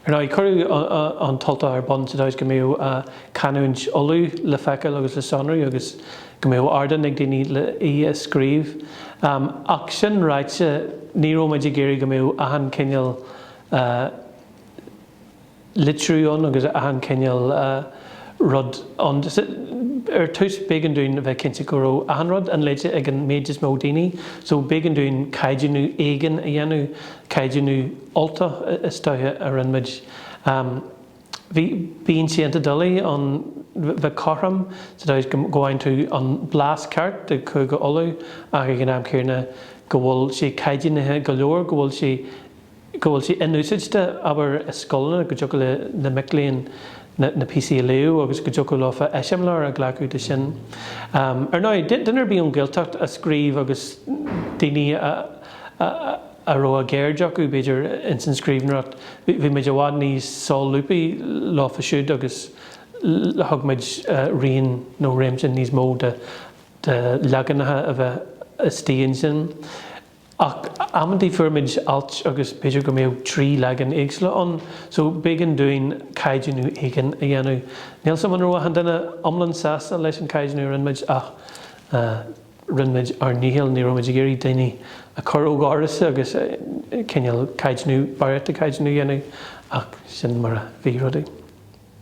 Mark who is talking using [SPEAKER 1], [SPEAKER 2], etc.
[SPEAKER 1] Ar ndóigh, cuireadh An tUltach ar bun sa dóigh is go mbeadh canúint Uladh le feiceáil agus le sonrú agus go mbeadh ardán ag daoine le í a scríobh. Ach sin ráite, ní raibh muid ag iarraidh go mbeadh achan chineál litriú ann agus achan cineál rud ann. Ar dtús b'éigean dúinn a bheith cinnte go raibh achan rud inléite ag an méid is mó daoine, so b'éigean dúinn caighdeánú éigin a dhéanamh, caighdeánú Ultach is dócha a rinne muid. Bhí, bíonn sé iontach doiligh ann bheith cothrom sa dóigh is go bhfaigheann tú an blas ceart de Chúige Uladh ach ag an am chéanna go bhfuil sé caighdeánaithe go leor go bhfuil sé go bhfuil sé inúsáidte, abair, i scoileanna, go dtiocfadh le na mic léinn na na píosaí a léamh agus go dtiocfadh leofa eiseamláir a ghlacadh de sin. Ar ndóigh, duine ar bith ón Ghaeltacht a scríobh agus daoine a a raibh a gceird acu, b'fhéidir, ins an scríbhneoireacht, bhí muid i bhfad níos sólúbthaí leofa siúd agus thug muid raon nó réimse níos mó de de leaganacha a bheith istigh ansin. Ach amantaí fuair muid alt agus b'fhéidir go mbeadh trí leagan éagsúla ann, so b'éigean dúinn caighdeánú éigin a dhéanamh. Níl 'sam an raibh achan duine iomlán sásta leis an chaighdeánú a rinne muid ach rinne muid ár ndícheall, ní raibh muid ag iarraidh daoine a chur ó dhoras agus cineál caighdeánú, barraíocht de chaighdeánú a dhéanamh ach sin mar a bhí rudaí.